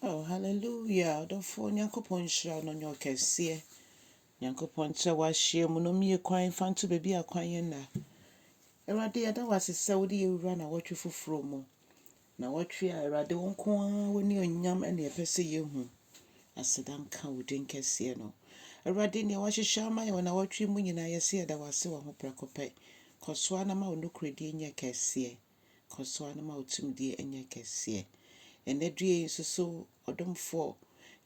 Oh hallelujah ɔdɔfoɔ Nyankopɔn nhyira no nyɛ ɔkɛseɛ Nyankopɔn nkyerɛ w'ahyeɛ mu no mmie kwan fa nto baabi a kwan yɛ nna Awurade yɛda wo ase sɛ wode yɛwura na wɔtwe foforɔ mu na wɔtwe a Awurade wo nko ara wo ne onyam ɛne ɛpɛ sɛ yɛhu aseda nka wo din kɛseɛ no Awurade nea wɔahyehyɛ ama yɛn wɔ na wɔtwe mu nyinaa yɛse yɛda wo ase wɔ ho prɛko pɛ kɔ so ara na ma wo nokorɛdie nyɛ kɛseɛ kɔ so ara na ma wo tumidie nyɛ kɛseɛ. Ɛnnɛ due yi nso so ɔdomfoɔ,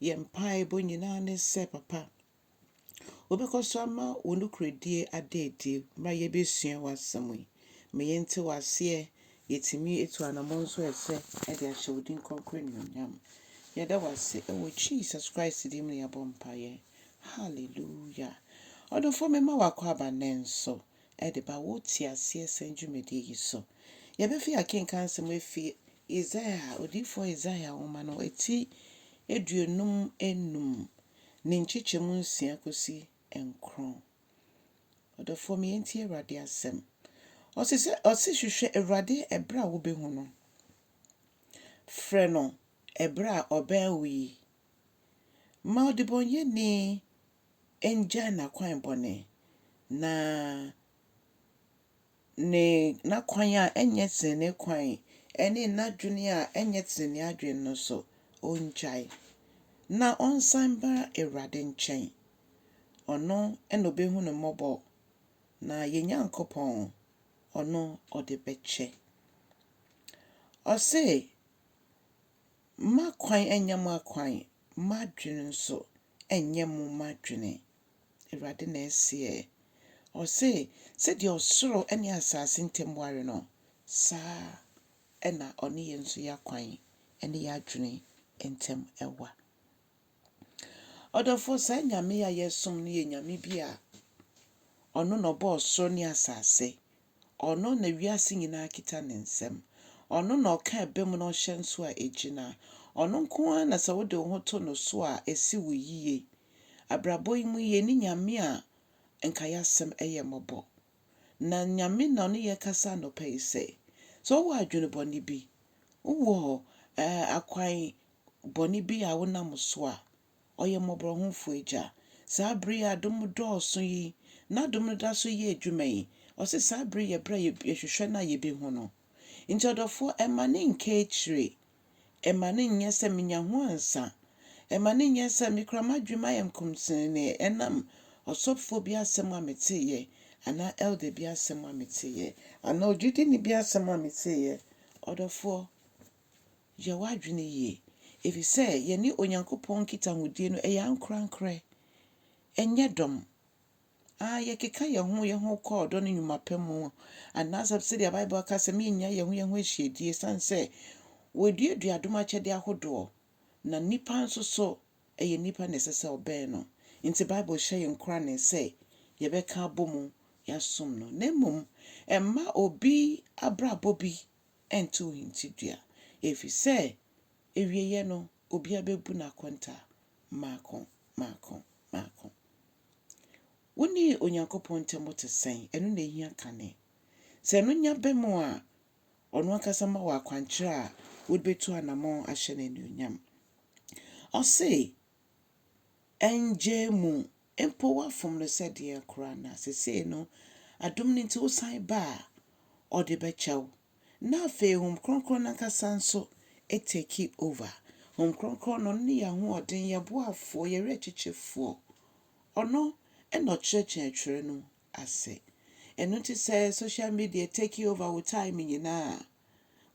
yɛn mpaebɔ nyinaa ne sɛ papa, wobɛkɔ so ama wo nokorɛdie ada adi berɛ a yɛbɛsua w'asɛm yi. Ma yɛnte wo aseɛ, yɛtumi atu anammɔn nso a ɛsɛ de ahyɛ wo din kronkron animuonyam. Yɛda wo ase wɔ Jesus Christ din mu na yɛabɔ mpaeɛ. Hallelujah. Ɔdomfoɔ mema wakɔ aba nnɛ nso. de ba wo teaseɛsɛm dwumadi yi so. Yɛbɛfi akenkan asɛm afi Yesaia, odiyifoɔ Yesaia nwoma no ti aduonum nnum ne nkyekyɛmu nsia kɔsi nkron. Ɔdɔfoɔ me, yɛntie Awurade asɛm. Ɔse sɛ, ɔse hwehwɛ Awurade ɛberɛ a wobɛhu no, frɛ no ɛberɛ a ɔbɛn wo yi. Ma ɔdebɔnyɛni ngyae n'akwan bɔne, na ne n'akwan a ɛnyɛ trenee kwan ne n'adwene a ɛnyɛ trenee adwene no nso, ongyae, na ɔnsan mma Awurade nkyɛn. Ɔno na obehu no mmɔbɔ, na yɛn Nyankopɔn, ɔno ɔde bɛkyɛ. Ɔse, M'akwan nyɛ mo akwan, m'adwene nso nyɛ mo adwene, Awurade na ɛseɛ. Ɔse, Sɛdeɛ ɔsoro ne asaase ntam ware no, saa ara na ɔne yɛn nso yɛn akwan ne yɛn adwene ntam wa. Ɔdɔfoɔ saa Nyame yi a yɛsom no yɛ Nyame bi a Ɔno na Ɔbɔɔ soro ne asase, Ɔno na wiase nyinaa kita Ne nsam, Ɔno na Ɔka ɛbɛ mu na Ɔhyɛ nso a ɛgyina, Ɔno nko ara na sɛ wode wo ho to No so a ɛsi wo yie. Abrabɔ yi mu yɛnni Nyame a nka y'asɛm yɛ mmɔbɔ. Na Nyame na Ɔne yɛn kasa anɔpa yi sɛ, sɛ wowɔ adwene bɔne bi, wowɔ akwan bɔne bi a wonam so a, ɔyɛ mmɔborɔhunfo Agya. Saa bere yi a adom dɔɔso yi, n'adom no da so yɛ adwuma yi, ɔse saa bere yi yɛ bere a yɛhwehwɛ no a yɛbɛhu no. Nti ɔdɔfoɔ, ɛmma no nnkɛ akyire, ɛmma no nnyɛ sɛ menya ho ansa, ɛmma no nnyɛ sɛ me koraa m'adwene mu ayɛ nkomsenenee ɛnam ɔsɔfoɔ bi asɛm a meteeɛ, anaa elder bi asɛm a meteeɛ, anaa ogyidini bi asɛm a meteeɛ. Ɔdɔfoɔ. Yɛ w'adwene yie, efisɛ yɛne Onyankopɔn nkitahodie no yɛ ankorankorɛ, ɛnyɛ dɔm. Aane, yɛkeka yɛn ho yɛn ho kɔ ɔdɔ ne nnwuma pa mu, anaasɛ sɛdeɛ Bible ka sɛ mennya yɛn ho yɛn ho ahyiadie, ɛsiane sɛ wɔaduadua adom akyɛdeɛ ahodoɔ, na nnipa nso so ɛyɛ nnipa na ɛsɛ sɛ wɔbɛn no. Enti Bible hyɛ yɛn nkorane sɛ yɛbɛka abɔ mu yɛasom no, na mmom ɛmma obi abrabɔ bi ntow hintidua, efisɛ awiei no obiara bebu n'akontaa mmaako mmaako mmaako. Wo ne Onyankopɔn ntam bo te sɛn? Ɛno na ehia kane. Sɛ ɛno nya bam a, ɔno ankasa ma wo akwankyerɛ a wode betu anammɔn ahyɛ no anuonyam. Ɔse, Ɛnngyaa mu mpo wafom no sɛ deɛn koraa na sesei no adom no nti wosan ba a, ɔde bɛkyɛ wo. Na afei Honhom Kronkron no ankasa nso take over. Honhom Kronkron no, ɔno ne yɛn ahoɔden, yɛn boafoɔ, yɛn werɛkyekyefoɔ. Ɔno na ɔkyerɛkyerɛ Twerɛ no ase. Ɛno nti sɛ social media take over wo time nyinaa a,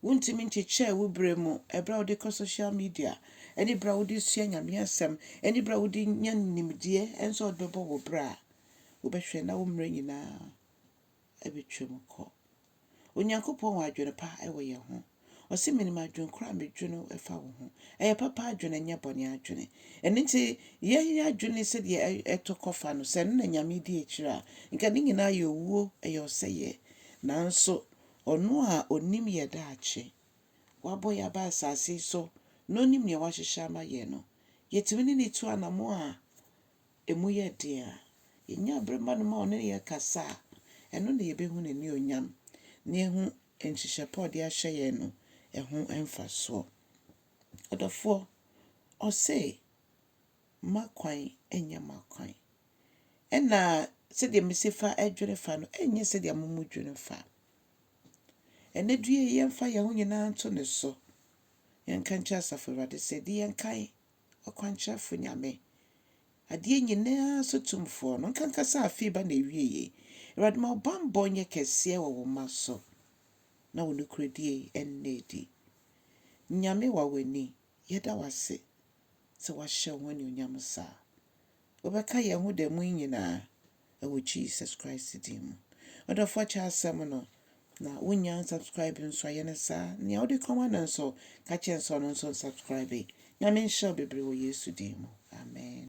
Wuntumi nkyekyɛɛ wo bere mu, bere a wode kɔ social media, ne bere a wode sua Nyame Asɛm, ne bere a wode nya nimdeɛ, ɛne sɛ wode bɛbɔ wo bra a, wobɛhwɛ na wo mmerɛ nyinaa abɛtwam kɔ. Onyankopɔn wɔ adwene pa wɔ yɛn ho. Ɔse, Menim adwene korɔ a medwene ɛfa wo ho. Ɛyɛ papa adwene, ɛnyɛ bɔne adwene. Ɛno nti, yɛn adwene sɛdeɛ ɛtɔ kɔfa no, sɛ ɛno na Nyame di akyire a, nka ne nyinaa yɛ owuo, ɛyɛ ɔsɛeɛ. Nanso, Ɔno a Onim yɛ daakye, Wabɔ yɛn aba asase yi so, na Onim nea Wahyehyɛ ama yɛn no, yɛtumi ne No tu anammɔn a emu yɛ den a yɛnya bere ma No ma Ɔne yɛn kasa a, ɛno na yɛbɛhu N'anuonyam, na yɛahu nhyehyɛe pa a Ɔde ahyɛ yɛn no ho mfasoɔ. Ɔdɔfoɔ, Ɔse, M'akwan nyɛ mo akwan. Nna sɛdeɛ mese fa dwene fa no nyɛ sɛdeɛ mo mo dwene fa. Ɛnɛ due yi, yɛmfa yɛn ho nyinaa nto ne so. Yɛnka nkyerɛ Asafo Awurade sɛ, di yɛn kan, ɔkwankyerɛfo Nyame. Adeɛ nyinaa so tumfoɔ no, nkankasa afei ba na ewie yi. Awurade ma wo bammɔ nyɛ kɛseɛ wɔ wo mma so, na wo nokorɛdie ɛnna adi. Nyame wa w'ani, yɛda wase. sɛ wɔahyɛ wo ho anuonyam saa. Wobɛka yɛn ho da mu yi nyinaa wɔ Jesus Christ din mu. Ɔdɔfo akyɛ asɛm no, na wonnya nsubscribe nso ayɛ ne saa. Nea wode kɔma no nso, ka kyerɛ sɛ ɔno nso nsubscribe. Nyame nhyɛ wo bebree wɔ Yesu din mu. Amen.